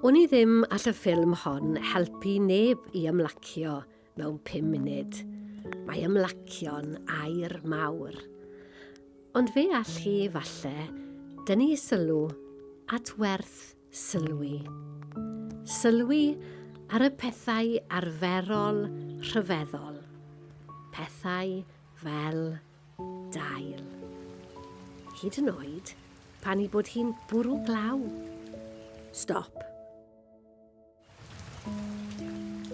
Wn i ddim all y ffilm hon helpu neb i ymlacio mewn pum munud. Mae ymlacio'n air mawr. Ond fe all chi falle dynnu sylw at werth Sylwi. Sylwi ar y pethau arferol rhyfeddol, pethau fel dail. Hyd yn oed pan ei bod hi'n bwrw glaw. Stop.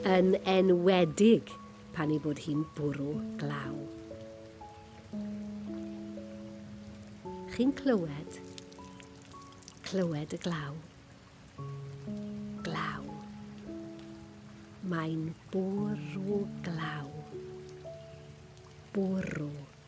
Yn enwedig pan ei bod hi'n bwrw glaw. Chi'n clywed? Clywed y glaw. Glaw. Mae'n bwrw glaw. Bwrw.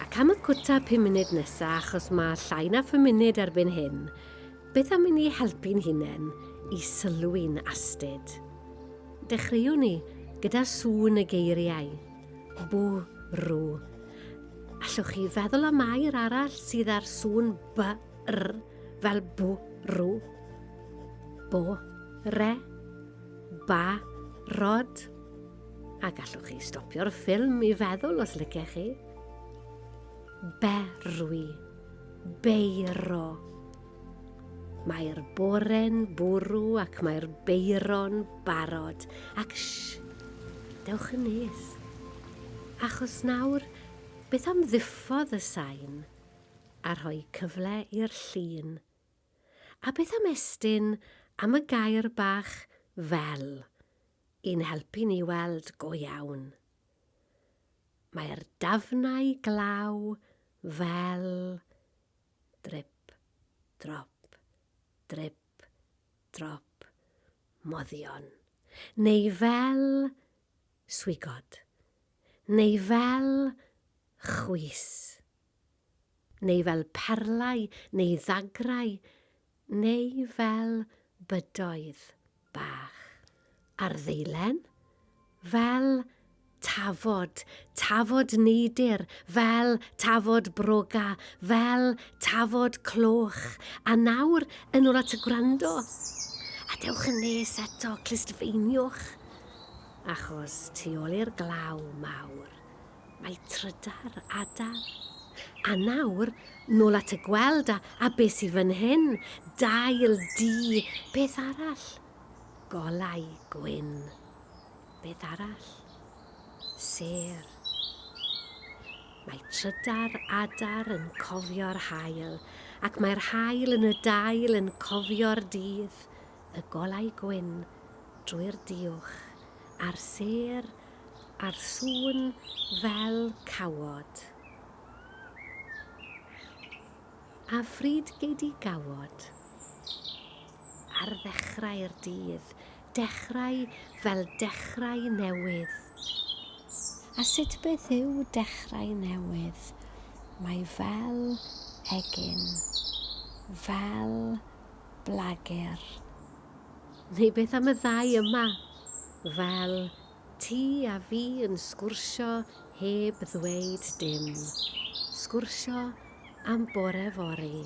Ac am y cwta pum munud nesa, achos mae llai na phum munud erbyn hyn, beth am i ni helpu'n hunain i sylwi'n astud? Dechreuwn ni gyda sŵn y geiriau. Bwrw. Allwch chi feddwl am air arall sydd â'r sŵn by r fel bwrw? Bo, re, ba, rod. A gallwch chi stopio'r ffilm i feddwl os lycech chi? Berwi. Beiro. Mae'r bore'n bwrw ac mae'r beiro'n barod, ac sh! Dewch yn nes. Achos nawr, beth am ddiffodd y sain a rhoi cyfle i'r llun? A beth am estyn am y gair bach 'fel' i'n helpu ni weld go iawn? Mae'r dafnau glaw fel drip, drop, drip, drop, moddion, neu fel swigod, neu fel chwys, neu fel perlau neu ddagrau, neu fel bydoedd bach. Ar ddeilen, fel tafod, tafod neidr, fel tafod broga, fel tafod cloch. A nawr, yn ôl at y gwrando. A dewch yn nes eto, clustfeiniwch. Achos tu ôl i'r glaw mawr, Mae trydar, adar. A nawr, nôl at y gweld a, a be sydd fan hyn? Dail, du, beth arall? Golau, gwyn. Beth arall? Sêr. Mae trydar, adar yn cofio'r hael, ac mae'r hael yn y dail yn cofio'r dydd, y golau gwyn, drwy'r diwch, a'r sêr a'r sŵn fel cawod. A phryd gei di gawod? Ar ddechrau'r dydd, dechrau fel dechrau newydd. A sut beth yw dechrau newydd? Mae fel egin, fel blagur. Neu beth am y ddau yma? Fel ti a fi yn sgwrsio heb ddweud dim. Sgwrsio am bore fory,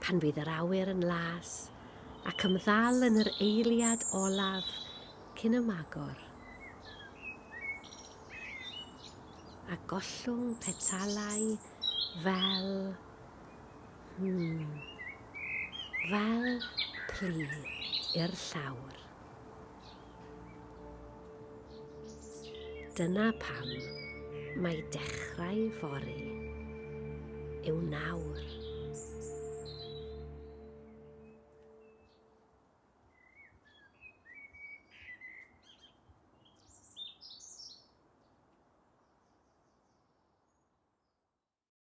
pan fydd yr awyr yn las, ac ymddal yn yr eiliad olaf cyn y magor. A gollwng petalau fel Hmm. Fel plu i'r llawr. Dyna pam mae dechrau fori yw nawr.